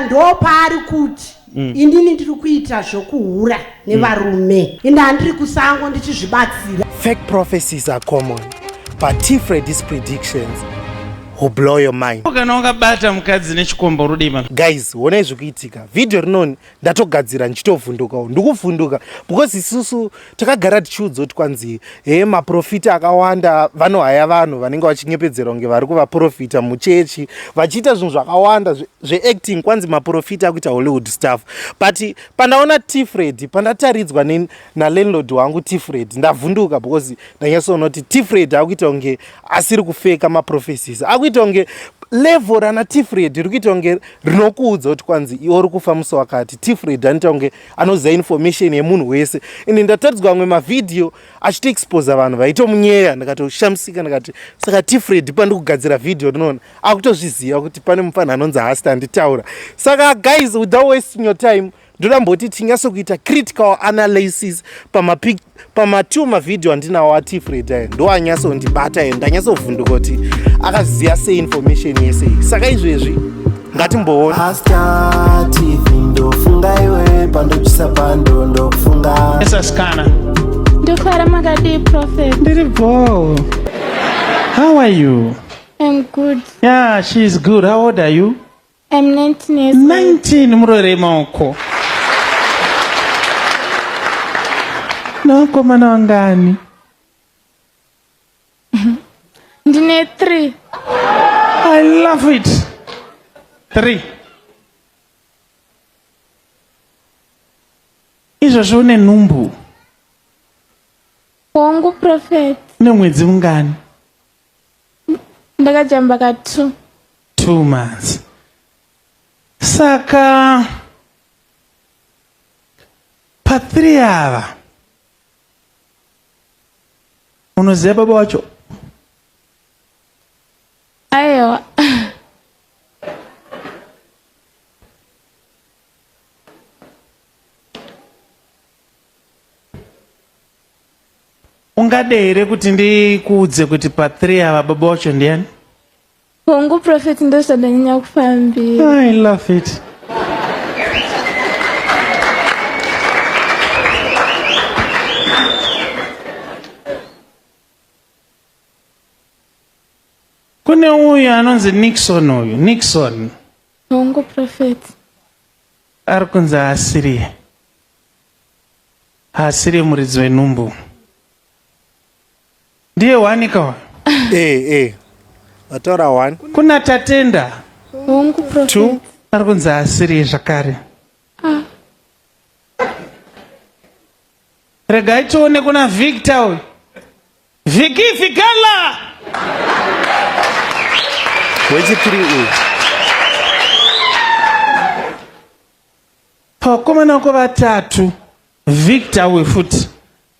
ndopaari kuti mm. inini ndiri kuita zvokuhura nevarume mm. ini handiri kusango ndichizvibatsira fake prophecies are common but tifre these predictions who blow your mind kana wakabata mukadzi nechikombo rudei mama guys honai zvikuitika vhidhiyo rinoni ndatogadzira ndichitovhundukawo ndikuvhunduka because isusu takagara tichiudzwa kuti kwanzi he maprofita akawanda vanohaya vanhu vanenge vachinyepedzerwa kunge vari kuvaprofita muchechi vachiita zvinhu zvakawanda zveacting zve kwanzi maprofita akuita hollywood staff but pandaona tifred pandataridzwa nalandlord wangu tifred ndavhunduka because ndanyatsoona kuti tifred akuita kunge asiri kufeka maprofesis akuita kunge level rana tifred riri kuita kunge rinokuudza kuti kwanzi iwo uri kufa musi wakati tifred anoita kunge anoziva information yemunhu wese ende ndataridzwa amwe mavhidhiyo achitoexposa vanhu vaitomunyeya ndakatoshamisika ndikati saka tifred pandikugadzira vhidhiyo ndinoona akutozviziva kuti pane mufanhu anonzi hasta anditaura saka guys without wasting your time ndoda mboti tinyatso kuita critical analysis pamapic pamatiu mavhidhiyo andinawo atifred ayo ndo anyatsondibata ayo ndanyatsovhunduka kuti akaziva sei information yese iyi saka izvezvi ngatimboona ndokara makadii prophet ndiri bhoo how are you i'm good yeah she is good how old are you I'm 19 years old. 19 murore maoko nawakomana wangani Ndine 3. i love it three izvozvo une nhumbu Wangu prophet. une mwedzi mungani ndakajamba ka two two months saka pathree ava unoziva baba wacho aiwa ungade here kuti ndikuudze kuti pa 3 ava baba wacho ndiyani hongu profet ndozvadanyanya kufambira i love it kune uyu anonzi nixon uyu nixon hongu profet ari kunzi asiriye Haasiri muridzi wenhumbu. Ndiye wanika uyu. Eh eh. Vatora one. Kuna Tatenda. Hongu prophet. Two. Ari kunzi haasiri zvakare. Regai tione kuna Victor uyu. Viki Fikala. Wechipiri uyu. Pavakomana vako vatatu Victor uyu futi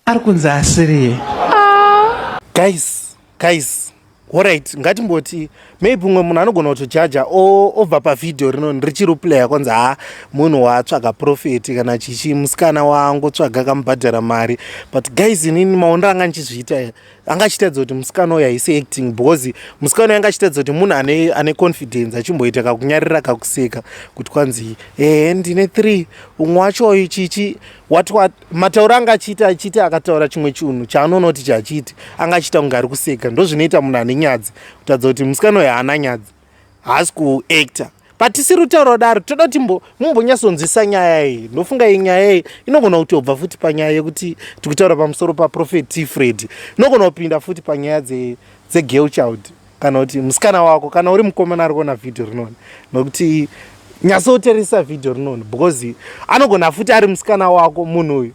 ari kunzi asiriye. Ah. Guys, guys. Alright, ngatimboti maybe umwe munhu anogona kutojaja obva pavhidhiyo rino richiri player kwanzi ha munhu waatsvaga profeti kana chichi musikana waangotsvaga kamubhadhara mari but guys inini maonero anga ndichizviita anga achitaridza kuti musikana uyo haisi acting because musikana uyo anga achitaridza kuti munhu ane, ane confidence achimboita kakunyarira kakuseka kuti kwanzi ehe ndine three umwe wacho uyu chichi what what matauro anga achiita achiita akataura chimwe chinhu chaanoona kuti chachiiti anga achiita kunge ari kuseka ndozvinoita munhu ane nyadzi kutaridza kuti musikana uyo haana nyadzi haasi kuactor but tisiri kutaura kudaro toda kuti mumbonyatsonzwisa nyaya iyi ndofunga iyi nyaya iyi inogona kuti obva futi panyaya yekuti tikutaura pamusoro paprofet t fred inogona kupinda futi panyaya dzegirl child kana kuti musikana wako kana uri mukomana ari kuona vhidhio rinoni nokuti nyatsoteresa vhidhio rinoni because anogona futi ari musikana wako munhu uyu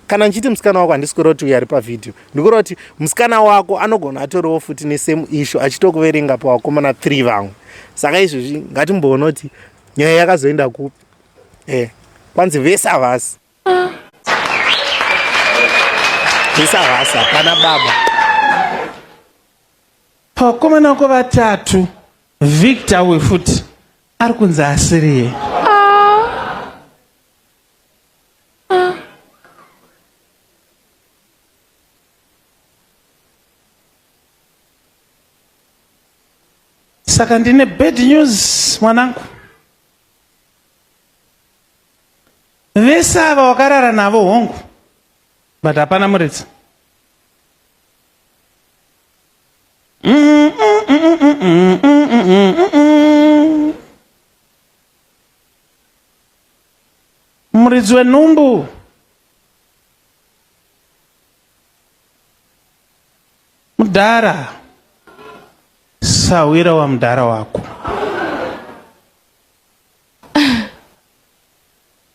kana ndichiti musikana wako handisi kureva kuti uyo ari pavhidhiyo ndikureva kuti musikana wako anogona atoriwo futi nesame issue achitokuverenga pavakomana three vamwe saka izvozvi ngatimboona kuti nyaya yakazoenda kupi e kwanzi vese havasi vese havasi hapana baba pavakomana wako vatatu victor we futi ari kunzi asiriye saka ndine bad news mwanangu vese ava wakarara navo hongu but hapana muridzi Muridzi wenhumbu mudhara sahwira wamudhara wako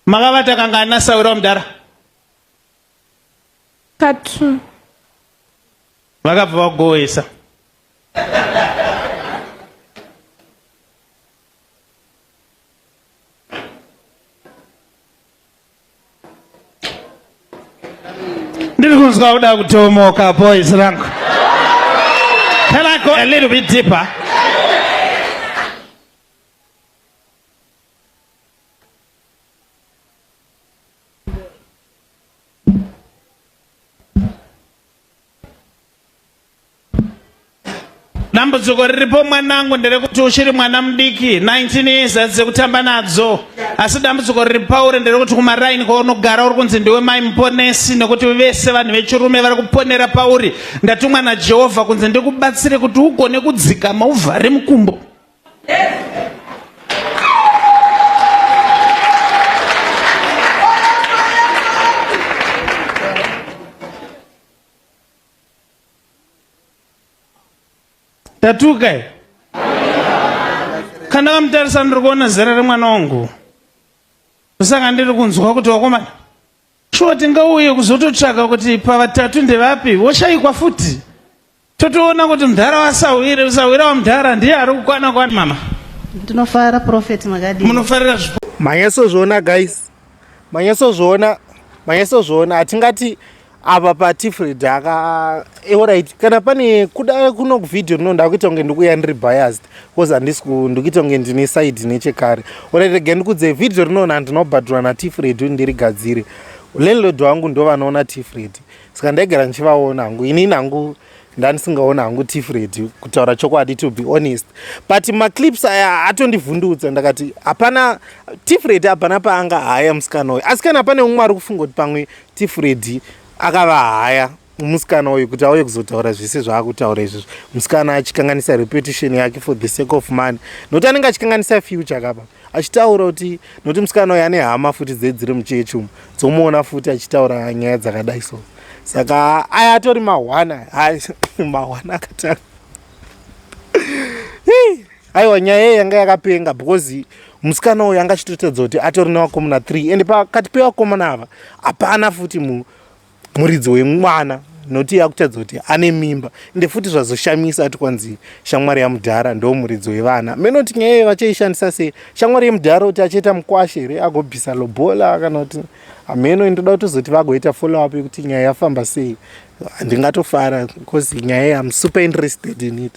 makavata kangani nasahwira wamudhara katu vakabva vakugohwesa ndiri kunzwa kuda kutomoka boys rangu can i go a little bit deeper dambudziko riripo mwanangu nderekuti uchiri mwana mudiki 19 years adzize kutamba nadzo asi dambudziko riri pauri nderekuti kumaraini kwaunogara uri kunzi ndiwe mai muponesi nekuti vese vanhu vechirume vari kuponera pauri ndatumwa najehovha kunzi ndikubatsire kuti ugone kudzikama uvhare mukumbo tatuka i kana kamutarisa ndiri kuona zera remwana wangu ndosaka ndiri kunzwa kuti wakomana shuwa tingauye kuzototsvaka kuti pavatatu ndevapi woshaikwa futi totoona kuti mudhara wasahwire usahwira wamudhara ndiye ari kukwana kwana mama ndinofara profeti makadii munofarira zvipo manyasozviona guys manyasozviona manyasozviona hatingati apa patifred aka orit eh, kana pane kuda kuno kuvhidhiyo rino ndakuita kunge ndikuya ndiri biased bcause handisi ndikuita kunge ndine side nechekare orit rega ndikudze vhidhiyo rino nandinobhadhura natifred ndirigadzire landlord wangu ndovanoona tifred saka ndaigara ndichivaona hangu inini hangu ndandisingaona hangu tifu redi kutaura chokwadi to be honest but maclips aya atondivhundutsa ndakati hapana tifu redi hapana paanga haya musikana uyu asi kana pane umwe ari kufunga kuti pamwe tifu redi akava haya musikana uyu kuti auye kuzotaura zvese zvaakutaura izvizvi musikana achikanganisa reputation yake for the sake of money nokuti anenge achikanganisa future kapa achitaura kuti nokuti musikana uyo ane hama futi dze dziri muchechi umu dzomuona futi achitaura nyaya dzakadai so saka aya atori mahwana mahwana akatanga aiwa nyaya iye yanga yakapenga because musikana uyo anga achitoratidza kuti atori nevakomana three and pakati pevakomana ava hapana futi munhu muridzi wemwana noti yakutadza kuti ane mimba ende futi zvazoshamisa ati kwanzi shamwari yamudhara ndo muridzi wevana menoti nyaya iyo vachaishandisa sei shamwari yemudhara kuti achaita mukwashe here agobvisa lobola kana kuti hameno ndoda kutozoti vagoita follow up yekuti nyaya yafamba sei ndingatofara bcause nyaya iyi am super interested in it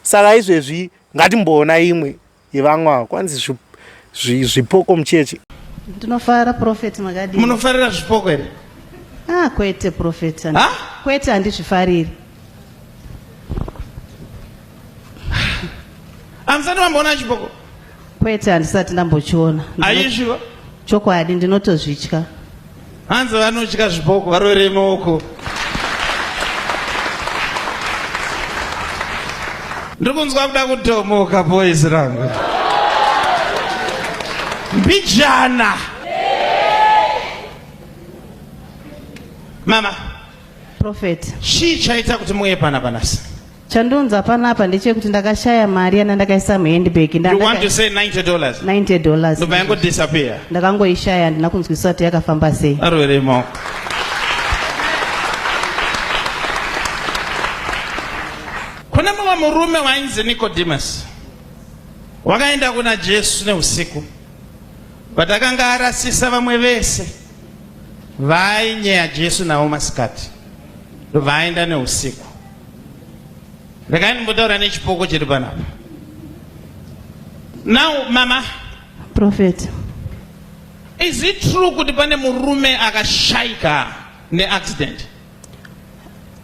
saka izvezvi ngatimboona imwe Ivamwe ava kwanzi zvi, zvi, zvipoko muchechi. Ndinofara prophet makadii? Munofarira zvipoko here? Ah kwete prophet. Ha? Kwete handizvifariri. Amusati mamboona chipoko? Kwete handisati ndambochiona. Ayizviva? Chokwadi ndinotozvitya. Hanzi vanotya zviboko varovere maoko. Ndiri kunzwa kuda kutomoka boys rangu. Mbijana. Mama. Prophet. Chii chaita kuti muuye pana panasi? Chandonza panapa ndechekuti ndakashaya mari yana ndakaisa muhandbag. You want to say 90 dollars? 90 dollars. Ndobva yango disappear. Ndakangoishaya ndina kunzwisisa kuti yakafamba sei. Arwere mo. Kuna mumwe murume wainzi Nicodemus. Wakaenda kuna Jesu neusiku. Patakanga arasisa vamwe vese. Vainyeya Jesu navo masikati. Vaenda neusiku. regai ndimbotaura nechipoko chiri panapa now mama prophet is it true kuti pane murume akashaika neaccident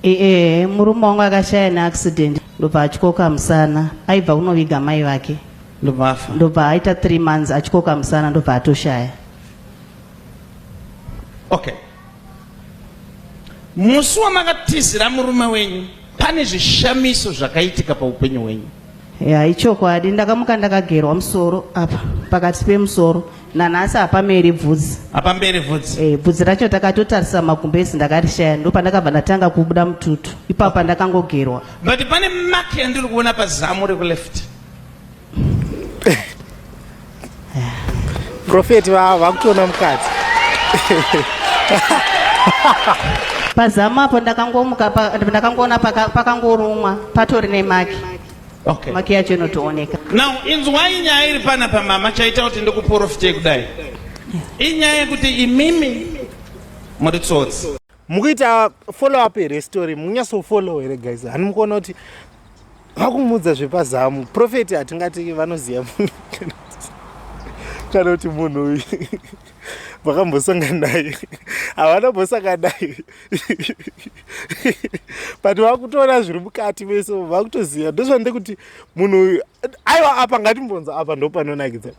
ee murume wangu akashaya neaccident ndobva atyoka musana aibva kunoviga mai vake ndobva afa ndobva aita three months atyoka musana ndobva atoshaya okay Musi wamakatizira murume wenyu pane zvishamiso zvakaitika paupenyu hwenyu. Ya ichokwadi ndakamuka ndakagerwa musoro apa pakati pemusoro nanhasi hapameri bvudzi. Hapamberi bvudzi. Eh bvudzi racho takatotarisa magumbezi ndakarishaya ndopandakabva ndatanga kubuda mututu ipapa ndakangogerwa. But pane mark yandiri kuona pazamu reku left. Profeti vavo vakutoona mukadzi. Pazamu apo ndakangomuka ndakangoona pakangorumwa patori nemaki. Okay. Maki yacho inotooneka. Now inzwai nyaya iri pana pamama chaita kuti ndikuporofite kudai. Inyaya yekuti imimi muri tsotsi. mukuita follow up here story mukunyaso follow here guys hani mukuona kuti vakumuudza zvepazamu profeti hatingati vanoziva munhu kana kuti munhu uyu vakambosanga naye havana mbosanga naye but vakutoona zviri mukati vese vakutoziva ndozvandekuti munhu uyu aiwa apa ngatimbonza apa ndopanonakidza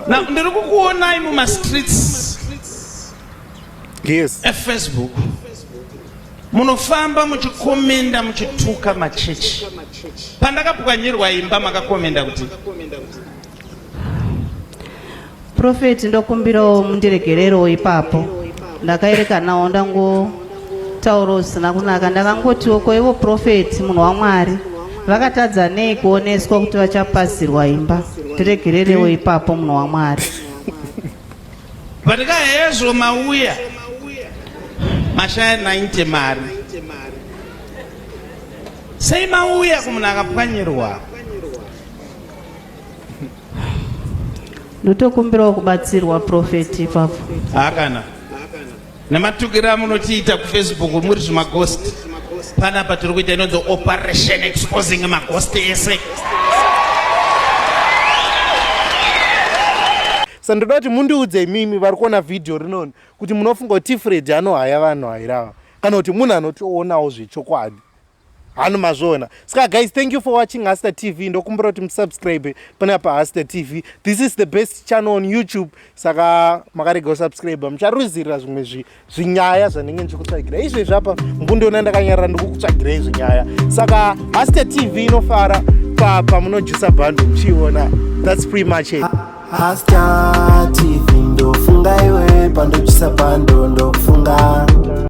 Now ndiri kukuonai muma streets yes. efacebook munofamba muchikomenda muchituka machechi pandakapwanyirwa imba makakomenda kuti Prophet ndokumbirawo mundiregererewo ipapo ndakaerekanawo ndangotaura usina kunaka ndakangotiwo ko ivo prophet munhu wamwari vakatadza nei kuoneswa kuti vachapasirwa imba tiregererewo ipapo munhu wamwari Patika hezvo mauya mashaya 90 mari sei mauya kumunhu akapwanyirwa ndotokumbirawo kubatsirwa profeti ipapo hakana nematukira munotiita kufacebook muri zvimagost panapa tiri kuita inonzi operation exposing magost ese sa ndoda kuti mundiudze imimi vari kuona vhidhiyo rinoni kuti munofunga kuti tifred anohaya vanhu hairava kana kuti munhu anotionawo zvechokwadi hanu mazviona ska guys thank you for watching haster tv ndokumbira kuti musubscribe pana pahaster tv this is the best channel on youtube saka makarega kusubscribe mucharuzirira zvimwe zvinyaya zvanenge ndichikutsvagira izvezvi apa ngundiona ndakanyarara ndikukutsvagirei zvinyaya saka haster tv inofara pamunojusa bhando muchiiona thats pre much it haster tv ndofunga iwe pandojusa bhando ndokufunga